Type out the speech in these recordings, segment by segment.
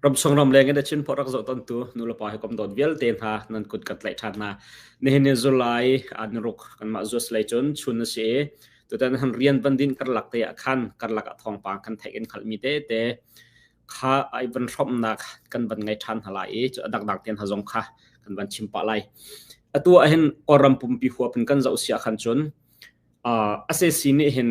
Ramsung ramleng in a Chinport rak zohtontu nulepa hi kom dawt vialte hna nan kut kan tlaih ṭhan hna. Nihin ni July an ruk kanmah US lei cun chun a si i tutan han rian van din karlak te ah khan karlak ah thawngpang kan theih in hngalhmi tete kha ai van hrawmnak kan van ngei ṭhan hna lai i cu a dangdang tein hna zong kha kan van chim pah lai. Atu ah hin Kawlram pumpi huap in kan zoh siah khan cun a SAC nih hin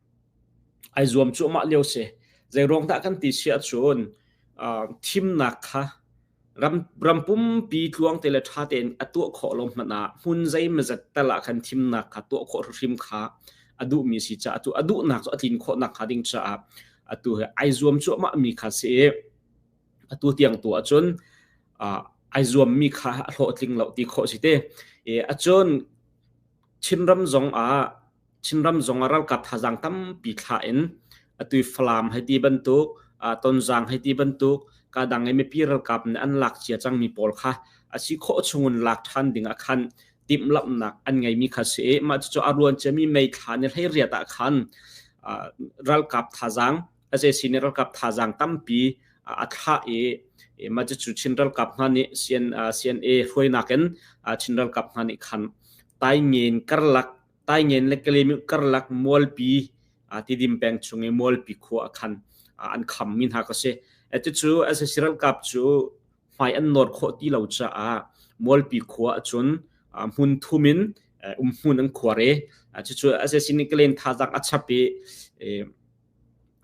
ai zuam cuahmah lio si. Zeiruang dah kan ti si ahcun uh, thimnak kha ram, ram pumpi tluang te le ṭha tein a tuah khawh lo hmanh ah hmun zeimazat tal ah khan thimnak kha tuah khawh hrim kha a duhmi si caah atu a duhnak cu a tlin khawhnak hnga ding caah atu he ai zuam cuahmah mi kha si i atu tiang tu ahcun uh, ai zuammi kha a hlawhtling lo ti khawh si te. E, a cun Chinram zong ah Chinram zong ah ralkap thazaang tampi thlah in atu i Falam hei ti bantuk, ah Tonzang hei ti bantuk, kadang i mipi ralkap nih an lak cia cangmi pawl kha a si khawh chungin lak ṭhan ding ah khan timhlamhnak an ngeimi kha si i mah cucu a ruan ciami mei thlah ni hleiriat ah khan ah ralkap thazaang sac nih ralkap thazaang tampi a thlah i mah cu Chin ralkap hna nih CNA hruainak in Chin ralkap hna nih khan taingen karlak taingen le kalemiu karlak mualpi tidim peng chung i mualpi khua a khan an kham mi hna ka si atucu sac ralkap cu hmai an nor khawh ti lo caah mualpi khua acun hmun thum in um hmun an khuar i cucu sac nih kalen thazaang a chap i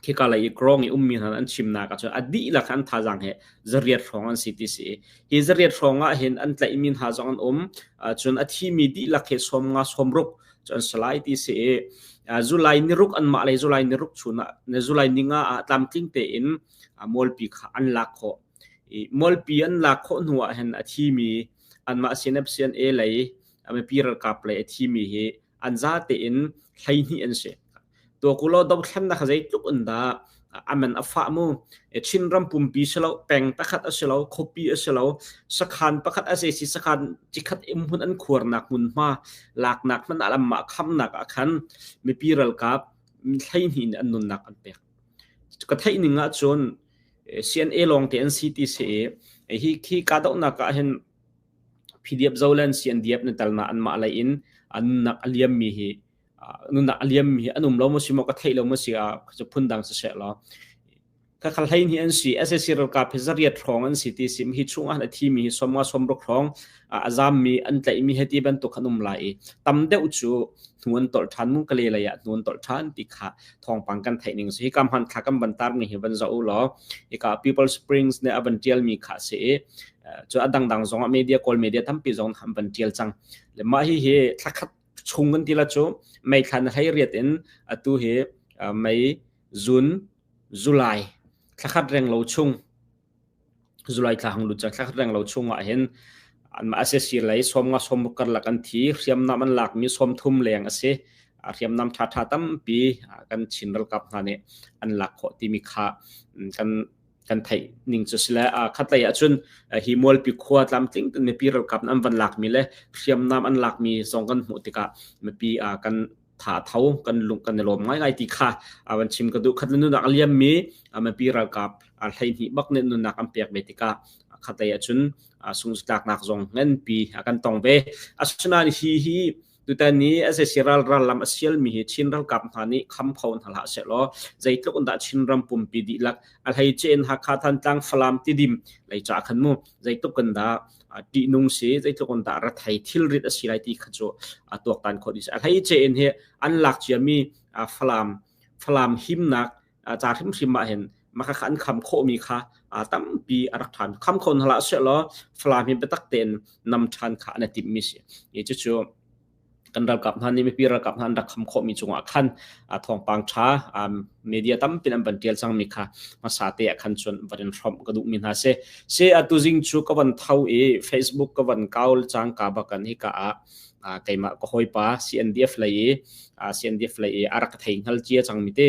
khika lei i grong i ummi hna an chimnak ah cun a dihlak an thazaang hi zariat hrawng an si ti si hi zariat hrawng ah hin an tlaihmi hna zong an um cun a thimi dihlak he sawmnga sawmruk cu an salai ti si i zulai niruk an mah le zulai niruk chun ah zulai ninga ah tlamtling tein molpi kha an lak khawh i molpi an lak khawh hnu ah hin a thimi anmah sinep sian e lei mipi ralkap lei a thimi hi an za tein hleihnih an si tua ku lo dothlen na kha zeitluk in da aman afa mu chin ram pumpi silo peng takhat asilo khopi asilo sakhan pakhat ase si sakhan chikhat im hun an khuar nak mun ma lak nak man alam ma kham nak akhan mipi ral kap hleihnih an nun nak an pek ka thai ninga chun CNA long te NCT se hi khi ka dau na ka hin Phidiap zolen sian diap na tal na anmah lei in a nunnak a liam mi hi nunnak a liam mi hi an um lo mo si mo ka thei lo mo si a chu phun dang se se lo ka khal hlei ni an si SAC ralkap hi zariat hrong an si ti sim hi chung an thi mi hi somwa somruk hrong a zam mi an tlai mi heti bantuk an um lai tam deuh chu nuan tol than mun kale la ya nuan tol than ti kha thong pang kan thai ning si hi kam han kha kan ban tar ni hi ban za u lo i ka people springs ne aban tial mi kha se cu a dangdang zong ah media kawl media tampi zong an van tial cang le mah hi hi thlakhat chung kan tila cu mei thlan hlei riat in atu hi mei june july thlakhat reng lo chung july thla hang lut thlakhat reng lo chung ah hin an ma ase sir lei som nga som kar lak an thi hriam nam an lak mi som thum leng ase hriam nam tha tha tampi kan chin ralkap hna ne an lak kho ti mi kha kan kan theih ning cu sile khatlei ahcun hi mualpi khua tlamtling mipi ralkap an van lakmi le hriamnam an lakmi zong kan hmuh tikah mipi kan tha tho kan lung kan lawm ngai ngai ti kha awan chim ka du khat nunak aliam mi mipi ralkap hlei hni bak ne nunak an pek ve tikah khatlei ahcun sungslak nak zong ngan pi kan tong ve asuna hi hi Tutan ni SAC ralral lam a sialmi hi Chin ralkap hna nih kham kho hna hlah sehlaw zeitluk in dah Chin ram pumpi dihlak a hleicein Hakha Thantlang Falam tidim lei ca khan mu zeitluk in dah tih nung si zeitluk in dah rathai thilrit a si lai ti kha cu a tuaktan khawh dih a hleicein hi an lak ciami Falam Falam himnak ca hrimhrim ah hin maka kha an kham khawhmi kha tampi a rak ṭhan kham kho hna la silaw falam hi biatak tein nam ṭhan kha an timmi si i cucu kan ralkap hna nih mipi ralkap hna an rak kham khawhmi cungah khan thawngpang ṭha media tampi an van ṭial cangmi kha hmasa te ah khan cun van in hrawmh ka duhmi hna si se atu zing cu ka van tho i facebook ka van kaul cang ka bakan hi ka a keimah ka hawipa CNDF lei i ASEAN deflai i arak thei ngal cia cang mi te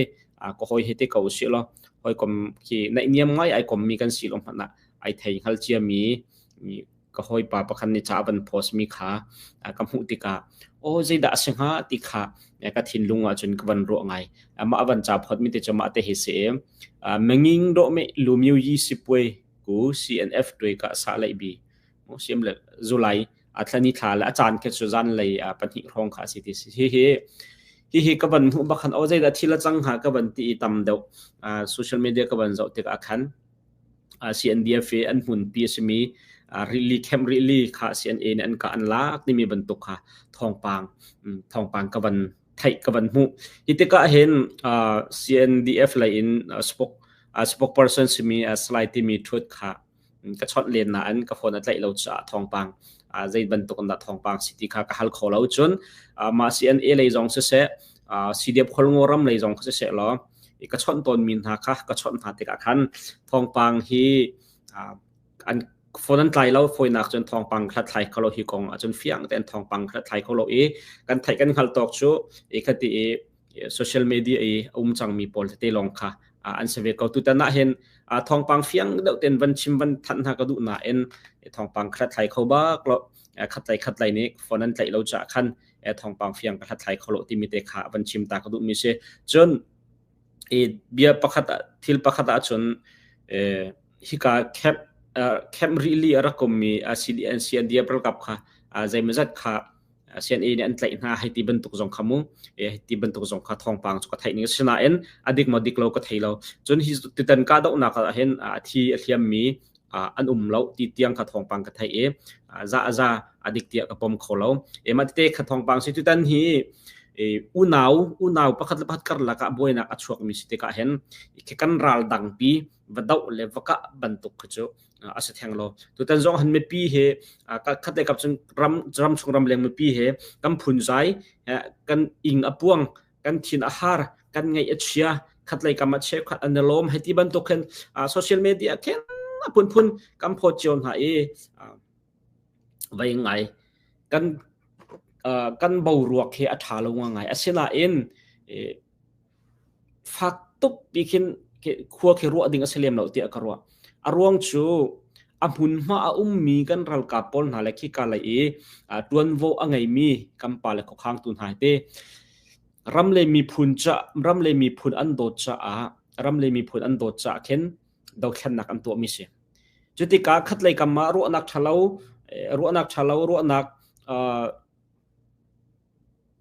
ko hoi he te ko si lo hoi kom khi naih niam ngai ai kom mi kan si lo mana ai thei ngal cia mi ka hoi pa pakhan ni cha ban post mi kha ka mu tika o je da se ha ti kha ka thin lunga chun ka ban ro ngai ama aban cha phot mi te chama te he se menging do me lumyu yi sipwe ku CNF twe ka sa lai bi mo siam le July a thlan i thla le a caan khi cu zanlei a pahnih hrawng kha a si ti si hihi hihi ka van hmuh bakhan o zeidah thil a cang hnga ka van ti i tam deuh social media ka van zoh tik ah khan CNDF i an hmun pi a simi rili camp rili kha CNA nih an ka an lak timi bantuk kha thawngpang thawngpang ka van theih ka van hmuh hi tikah hin CNDF lei in spok spokesperson simi slai timi thut kha ka chawnh len na in ka phone a tlaih lo caah thawngpang uh, zei bantuk in dah thawngpang si ti kha ka hal kho lo cun uh, ma CNA lei zong si se uh, CDF kholngo ram lei zong si se lo i ka chawnh tawn mi hna kha ka chawnh hna tikah khan thawngpang hi uh, an phone an tlai lo foinak cun thawngpang hlathlai kho lo hi kong acun fiang tein thawngpang hlathlai kho lo i kan theih kan hngal tok cu i khati i social media i a um cangmi pawl tete lawng kha an si ve ko tutan ahhin thawngpang fiang deuh ten van chim van thanh hna ka duh nain thawngpang khathlai kho bak lo khatlai khatlai nih phone an tlaih lo cha khan thawngpang fiang ka hlathlai kholo timi te kha van chim ta ka duh mi si cun i bia pakhat thil pakhat ah cun hika camp camp rili a rakom mi CDNC an dia ralkap kha zeimazat kha CNA nih an tlaih hna hei ti bantuk zong kha mu hei ti bantuk zong kha thawngpang cu ka theih ning si nain a dik mo dik lo ka thei lo cun hi tutan ka doh nak ah hin a thi a thiam mi an um lo ti tiang kha thawngpang ka thei e za za a dik tia ka pom kho lo e ma te kha thawngpang si tutan hi unau unau pakhat le pakhat kar laka buainak a chuak mi si te ka hen ke kan ral dang pi va doh le va ka bantuk khu chu a si theng lo tutan zong han mipi he khat le kap cun ram ram chung ram leng mipi he kan phun zai kan ing a puang kan thin a har kan ngai a chia khat lei kam a che khat an lom he ti bantuk khin social media khen a phun phun kam pho chion ha i vei ngai kan kan boruak he a tha lo nga ngai asinain fak tuk pi khin khua khi ruah ding a si lem lo tiah ka ruah a ruang cu a hmunhma a ummi kan ralkap pawl hna le khika lei i tuanvo a ngeimi kampa le khokhang tu hna te ram le miphun ca ram le miphun an dawt caah ram le miphun an dawt caah khin dothlennak an tuahmi si. Cu tikah khatlei kam ah ruahnak ṭhalo ruahnak ṭhalo ruahnak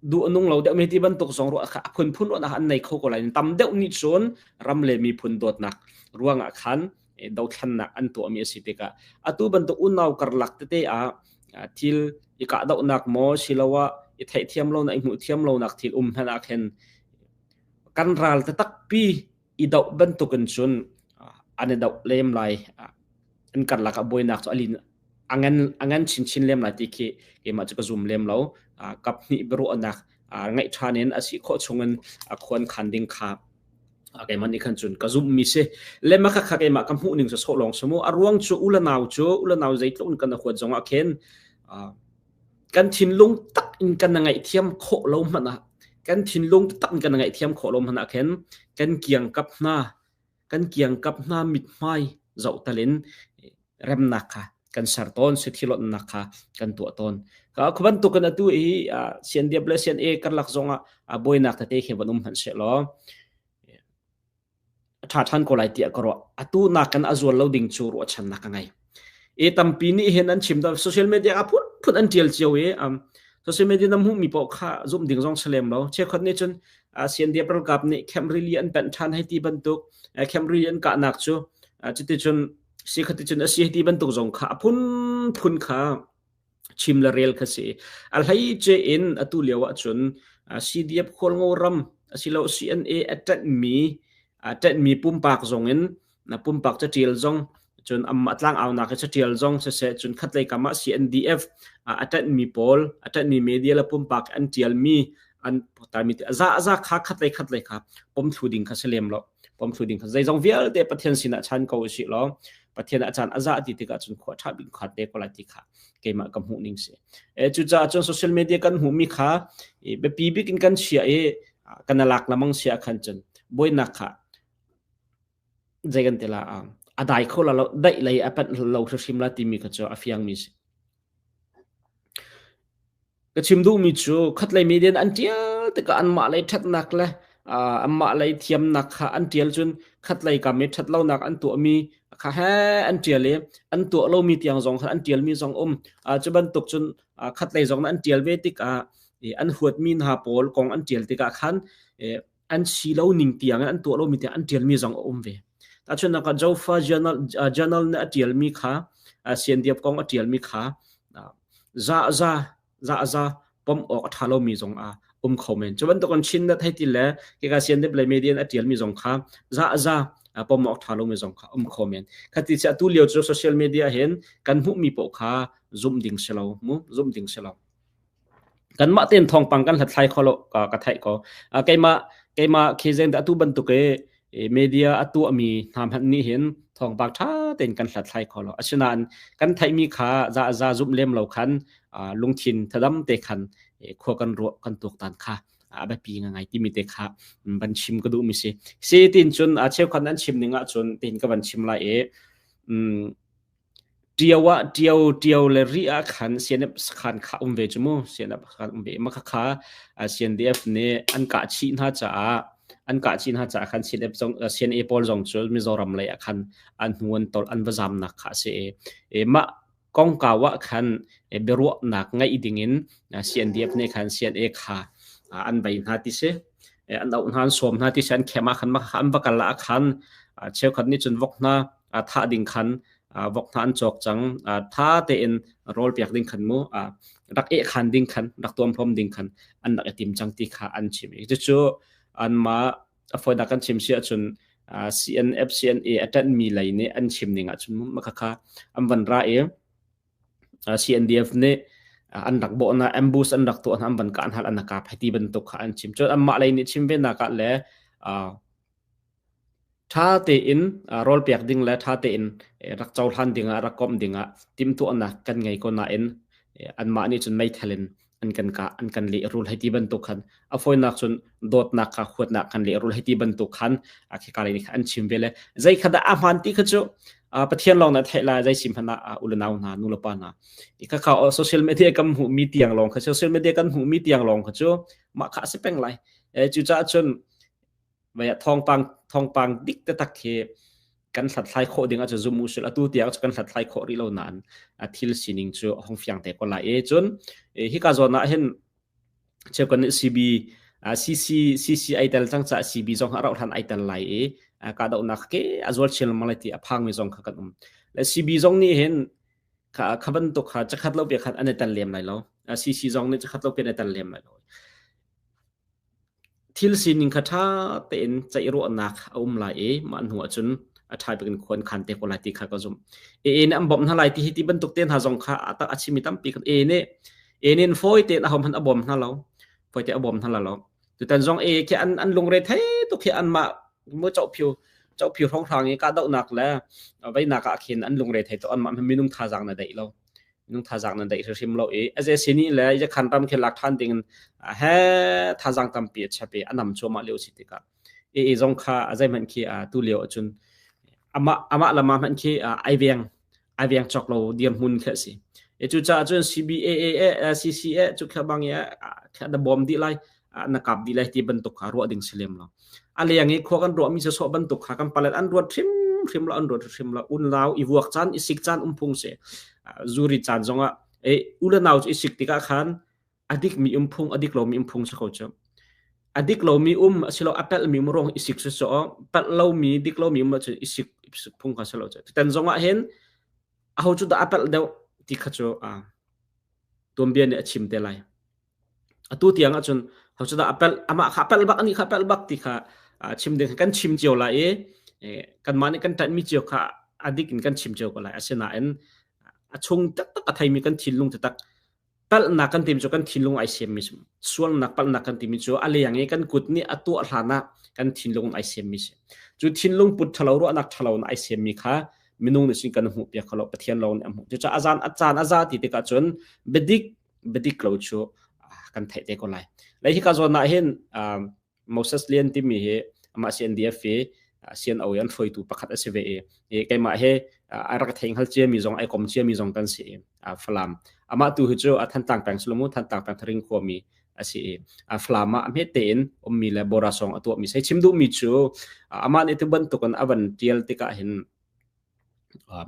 duh nung lo deuh mi ti bantuk zong ruah kha a phunphun ruahnak an nei kho ko lai tam deuh nih cun ram le miphun dawtnak ruangah khan dothlennak an tuahmi a si tikah atu bantuk unau karlak tete ah thil i kahdohnak maw siloah i theihthiam lonak i hmuh thiam lonak thil um hmanah khin kan ral takpi i doh bantuk in cun an i doh lem lai an karlak ah buainak cu alin angen angen chinchin lem lai ti khi keimah cu ka zum lem lo kap hnih biaruahnak ngeih ṭhan in a si khawh chung in a khuan khan ding kha keimah nih khan cun ka zumh mi si le ma kha keimah ka hmuh ning so lawng su mu a ruang cu u le nau cu u le nau zeitluk in kan huat zong ah khin kan thinlung tak in kan ngaihthiam khawh lo hmanh ah kan thinlung tak in kan ngaihthiam khawh lo hmanh ah khin kan kiangkap hna kan kiangkap hna mithmai zoh talin remnak kha kan ser tawn si thilonnak kha kan tuah tawn khu bantukin atu i sian diab le sian e karlak zongah a buainak tete khi van um hman se law a ṭha ṭhan ko lai tiah ka ruah. Atu nakin a zual lo ding cu ruahchannak ka ngei. E tampi nih hin an chim da social media ah phunphun an ṭial cio i um, social media na hmuhmi paoh kha zum ding zong si lem lo. Chekhot nih cun uh, CNDF ralkap nih camp rili an panh ṭhan hei ti bantuk uh, camp rili an kahnak cu uh, cuti cun si khaticun a si hei ti bantuk zong kha a phunphun kha chim le rel kha si a hlei ce in atu lio ah cun CDF khualngo ram asilo CNA attat mi attat mi pumpak zong in na pumpak ca tial zong cun am atlang au na ka ca tial zong se se cun khat lei kama CNDF attat mi pawl attat mi media la pumpak an tial mi an ta mi te za za kha khat lei khat lei kha pom thlu ding kha se lem lo pom thlu ding kha zeizong vialte pathian sinah chan ko si lo Pathian a caan a za ti tikah cun khua ṭha bik kha te ko lai ti kha keimah ka hmuh ning si. E cucaah cun social media kan hmuhmi kha biapi bik in kan chia i kan lak lamang sia khan cun buainak kha zei kan tila a dai kho la lo daih lei a pat lo hrim la timi kha cu a fiang mi si. Ka chim duhmi cu khatlei media nih an ṭial tikah anmah lei ṭhatnak le aa anmah lei thiamnak kha an ṭial cun khatlei kam i ṭhatlonak an tuahmi kha heh an ṭial i an tuah lomi tiang zong kha an ṭialmi zong um. A cu bantuk cun aa khatlei zong nih an ṭial ve tikah i an huatmi hna pawl kong an ṭial tikah khan i an si lo ning tiang in an tuah lomi tiang an tialmi zong a um ve. Tahchun nak Zofa journal journal na tialmi kha Siandiap kong a tialmi kha za za za za pom awk a tha lomi zong a um kho men. Cu bantukan Chin na thai til le kika Siandiap le media na tialmi zong kha za za pom awk tha lomi zong kha um kho men. Khati sia tu lio cu social media hin kan hmuhmi poh kha zum ding selo mu zum ding selo. Kanmah tein thawngpang kan hlathlai kho lo ka, ka theih ko. Uh, keimah, keimah khezeng dah atu bantuk i media a tuahmi hna hmanh nih hin thawngpang ṭha tein kan hlathlai kho lo. Asinain kan theihmi kha za, za zumh lem lo khan uh, lungthin thadam te khan khua kan ruah kan tuaktan kha a biapi ngai timi te kha van chim ka duhmi si. Si tin cun cheukhat nan chim ning ahcun tin ka van chim lai i um, Ṭio ah ṭio, ṭio le ri ahkhan sianep sakhan kha a um ve cu mu. Sianep sakhan a um ve i makhakha ah siandeef nih an kah chih hna caah an kah chih hna caah khan sianep zong aa sian-e pawl zong cu Mizoram lei ahkhan an hnu an tawlh an va zaamnak kha a si i i mah kongkau ahkhan i biaruahnak ngeih dingin aa siandeef nih khan sian-e kha aa an bei hna ti si. An auh hna, an sawm hna ti si. An khem ahkhan makhakha an va kal ahkhan aa cheukhat nih cun vok hna thah ding khan vok hna an cawk cang tha tein rawl piak ding khan mu rak eh khan ding khan rak tuam pom ding khan an rak i tim cang ti kha an chim i cucu anmah afoinak kan chim si ahcun CNF CNA atan mi lei nih an chim ning ahcun makhakha an van ra i CNDF nih an rak bo na ambush an rak tuah na an van kan hal an ka phaiti bantuk kha an chim chun an mah lei nih chim ve na ka le Ṭha tein rawlpek ding le ṭha tein rak cohlan dingah, rak komh dingah timhtuahnak kan ngei ko nain anmah nih cun meithal in an kan kah, an kan lehrul hei ti bantuk khan. A fawinak cun dawtnak kha huatnak kan lehrul hei ti bantuk khan khika lei nih khan an chim ve le zeikhat dah a hmaan ti kha cu Pathian lawng nih a theih lai, zeisim hmanh ah u le nau hna, nu le pa hna. Khakha social media kan hmuhmi tiang lawng kha, social media kan hmuhmi tiang lawng kha cu mah kha a si peng lai. Cucaah cun Mei ah thawngpang thawngpang dik taktak khi kan hlathlai khawh ding ahcun zum usul atu tiang cu kan hlathlai khawh rih lo nain a thil sining cu hong fiang te ko lai e cun hika zawn ah hin cheukan CB CC CCI tel cang ca CB zong ha rauhhlan ai tel lai i kahdohnak ke a zual chin lengmang ti a phangmi zong kha kan um le CB zong nih hin kha bantuk kha chakhat lo pe khan an i tel lem lai lo CC zong nih chakhat lo pe an i tel lem lai lo Thil sining kha ṭha tein ceih ruahnak a um lai i mah hnuah cun a ṭha bik in khua in khan te ko lai ti kha ka zumh. EA nih an bawmh hna lai ti hi ti bantuk te hna zong kha a a chimmi tampi kan EA nih EA nih fawi tein ahohmanh a bawm hna lo, fawi tein a bawm hna la lo. Tutan zong EA khi an an lungre thei tuk hi anmah maw cohphiu cohphiu hrawnghrang i kahdohnak le veinak ah khin an lungre thei tuk, anmah minung thazaang na deih lo. minung thazang nan daih hrim lo i a ze sini le yakhan ram khi lak than ding in he thazang tampi a chape anam chuama leo si tikah e e zong kha azai man khi tu leo achun ama ama lama man khi aiweng aiweng chok lo diam mun kha si e chu cha chun CBAA CCA chu kha bang ya kha da bom di lai ah na kap dih lai ti bantuk kha ruah ding si lem lo a leng i khua kan ruahmi se so bantuk kha kan palet an ruat hrim hrim lo an ruat hrim lo un lau i vuak chan i sik chan umphung se zuri chan zongah e ule nau i sik tikah khan adik mi umphung adik lomi umphung se ko chu adik lomi um asilo apel mi mrong i sik so pel lomi dik lomi um chu i sik phung kha selo chu ten zongah hen aho chu da apel deu ti kha chu a tuambia ne a chim te lai Atu tiang ahcun hocudah a pelh amah kha a pelh bak anih kha a pelh bak ti kha ah chim ding kan chim cio lai i eh, kanmah nih kan ṭanhmi cio kha a dik in kan chim cio ko lai. Asinain a chung taktak a theimi kan thinlung taktak palhnak kan timi cu kan thinlung ai semmi sualnak palhnak kan timi cu a leng i kan kut nih a tuah hlan ah kan thinlung in ai semmi si. Cu thinlung put ṭhalo ruahnak ṭhalo in ai semmi kha minung nih cun kan hmuhpiak kho lo Pathian lawng nih a hmuh. Cucaah a zan a caan a za ti tikah cun biadik bedik lo chu kan theih te ko lai lai hi ka zon na hin Moses Lian timi hi ama CNDF hi CNO yan hruaitu pakhat asi ve e keima he arak theng hal chia mi zong ai kom chia mi zong tan si falam ama tu hi chu a than tang pang sulumu than tang pang thring kho mi asi a flama a me te in ummi le bora song atua mi sai chimdu mi chu aman itu ban tukan avan tial tika hin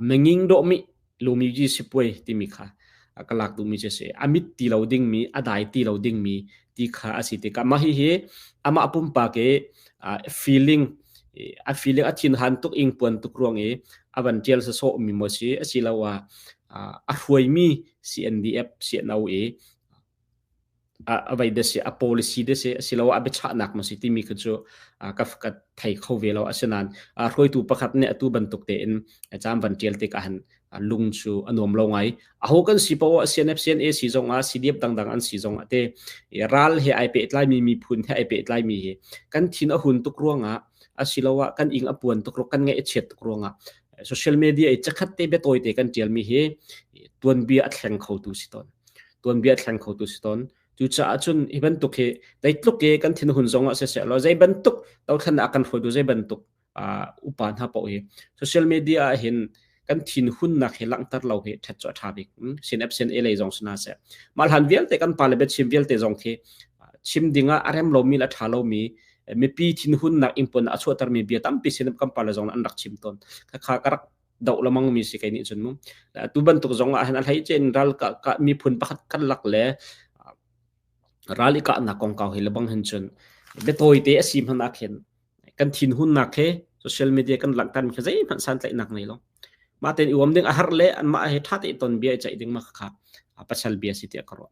Menging dawhmi lumi ci sipuai timi kha ka lak duhmi cu a si. A mit ti lo dingmi, a dai ti lo dingmi ti kha a si tikah mah hihi amah pumpak i feeling, a feeling a thinhan tuk, ingpuan tuk ruang i a van ṭial sawsawhmi maw a si asiloah a hruaimi CNDF CNO i a vai dese a policy dese asiloah a biachahnak maw si timi kha cu ka ka thei kho ve lo asinain hruaitu pakhat nih atu bantuk tein cham van tial te ka han lung chu a nuam lo ngai a ho kan si po a CNF CNAC zong a CDF dangdang an si zong a te ral he ai pe tlai mi mi phun he ai pe tlai mi hi kan thin a hun tuk ruanga asiloah kan ing a puan tuk kan nge chiat tuk ruanga social media i chakhat te be toite kan tial mi hi tuan bia a thleng kho tu si ton tuanbia thlen kho tu si ton cucaah cun hi bantuk hi dei tluk i kan thin hun zong ah siseh lo zei bantuk tothan a kan hruaitu zei bantuk upa hna pau hi social media ah hin kan thin hun nak hi langtar lo hi thet cho tha bik sin app sin e lei zong suna se malhan vialte kan pa le be chim vialte zong khi chim dinga arem lo mi la tha lo mi mipi thin hun nak impon a chuatar mi bia tampi sin kan pa le zong an rak chim ton kha ka rak doh lamang mi si kei nih cun mu tu bantuk zong ah hin a hlei chen ral ka ka miphun pakhat khat lak le ral i kahnak kong kau hi lebang hin cun betawi te asi hman ak hin kan thin hun nak he social media kan lang tan kha zei hman san tlai nak nei lo ma ten iwam ding a har le an ma he tha te ton bia chai ding ma kha a pasal bia si te karo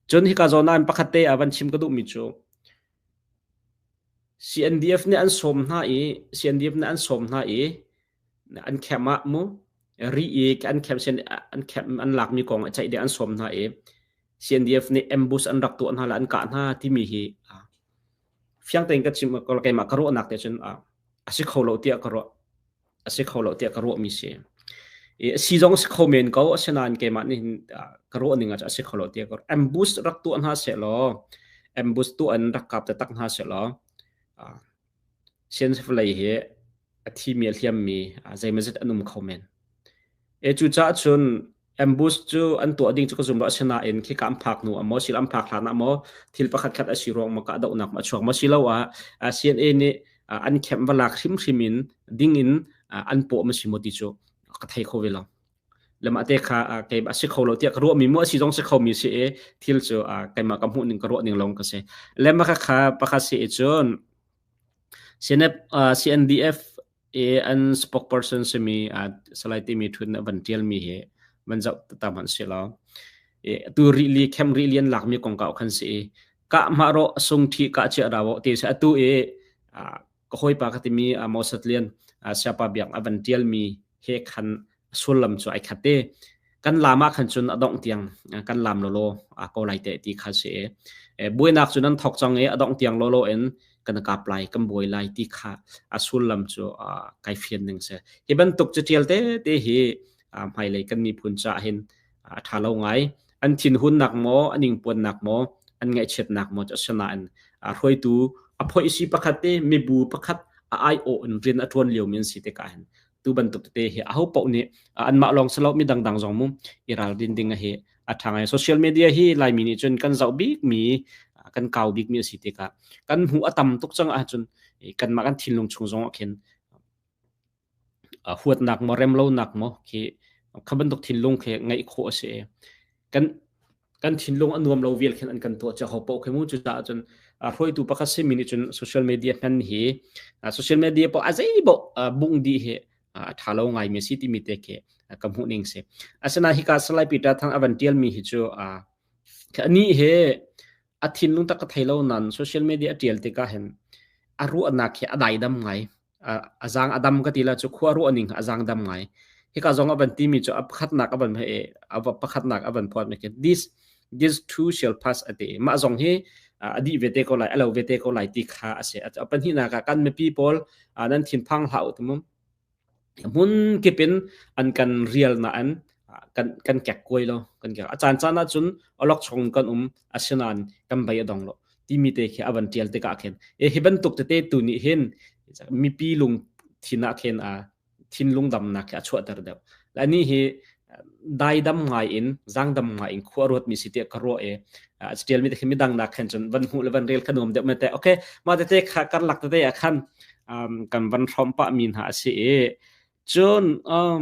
chun hi ka zona pakhat te avan chim ka du mi chu CNDF nih an sawm hna i CNDF nih an sawm hna i an camp ah mu ri i an camp an camp an lakmi kong a ceih deh an sawm hna i CNDF nih ambush an rak tuah hna le an kah hna timi hi fiang tein ka chim keimah ka ruahnak te cun a si kho lo tiah ka ruah. a si kho lo tiah ka ruahmi si. I a si zong a si kho men ko, asinain keimah nih ka ruah ning ah a si kho lo tiah ka ambush rak tuah hna sehlaw, ambush tuah in rak kap tatak hna sehlaw, science vawlei hi a thi mi a hliam mi zeimazet an um kho men. Cucaah cun Ambush cu an tuah ding cu ka zum lo asinain khika an phak hnu ah maw sila an phak hlan ah maw thil pakhatkhat a si ruang maw kahdohnak maw a chuak maw siloah ah CNA nih ah an camp va lak hrimhrim in ding in ah an paw maw si maw ti cu ka thei kho ve lo. Lemah te kha ah kei a si kho lo tiah ka ruahmi maw a si zong si khomi si i thil cu ah keimah ka hmuh ning ka ruah ning lawng ka si. Lemah khakha pakhat si i cun CNF, ah CNDF i an spokesperson simi uh, salai timi thun a van tialmi hi van zoh ta hmanh si lo i tu rili khem rili an lakmi kong ka khan si i ka ma ro sung thi ka che rawo ti se atu i ka hoi pa ka timi amos lian siapa biak a van tialmi he khan sullam cu ai khat te kan lam ah khan cun adongh tiang kan lam lolo a ko lai te ti kha si e buainak cu nan thok chang e adongh tiang lolo in kan kap lai kan buai lai ti kha a sullam cu kai fian ning se hi bantuk cu tial te te hi hmai lei kan mi phun cha hin tha lo ngai an thin hun nak mo aning puan nak mo an ngai chiat nak mo cha sana an a hroitu a phoi si pakhat te mi bu pakhat a ai o in rin a tuan lio min si te ka hin tu bantuk tete hi aho paoh nih anmah lawng si lo mi dangdang zong mu i ralrin ding hi a tha ngai social media hi laimi nih cun kan zoh bik mi kan kau bik mi asi tikah kan hmu a tam tuk cang ahcun kanmah kan thinlung chung zong ah khin huatnak maw remlonak maw khi kha bantuk thinlung khi ngeih khawh asi kan kan thinlung a nuam lo vial khin an kan tuah cia ho poh khi mu cucaah cun hruaitu pakhat simi nih cun social media hman hi social media poh a zei boh bung di hi a tha lo ngai mi si timi te khi ka hmuh ning si asinain hika salai peter thang avan tial mi hi cu ni he a thinlung tak ka thei lo nan social media tial tikah hin a ruahnak hi a daidam ngai a zang a dam ka ti la cu khua ruah ning a zang dam ngai hika zong a van ti mi cu a pakhatnak a van he a pakhatnak a van phot mi this this too shall pass a ti mah zong hi a di ve te ko lai a lo ve te ko lai ti kha a se a panhi na ka kan mi pi paul nan thin phang hlau tumum mun kipin an kan real na an kan kan kek koi lo kan kek a chan chan na chun olok chong kan um asinan kan bai adong lo timi te khi a van tial tikah khin e hi bantuk tete tu nih hin mipi lung thinak khin a thinlung damnak khi a chuahter deuh la ni hi dai dam ngai in zang dam ngai in khua ruat mi si te ka ro e a tial mi te mi dang nak khan chun van hu le van rel khanum deuh me te okay ma te te kha kar lak te a khan kan van hrom pa mi na si e chun um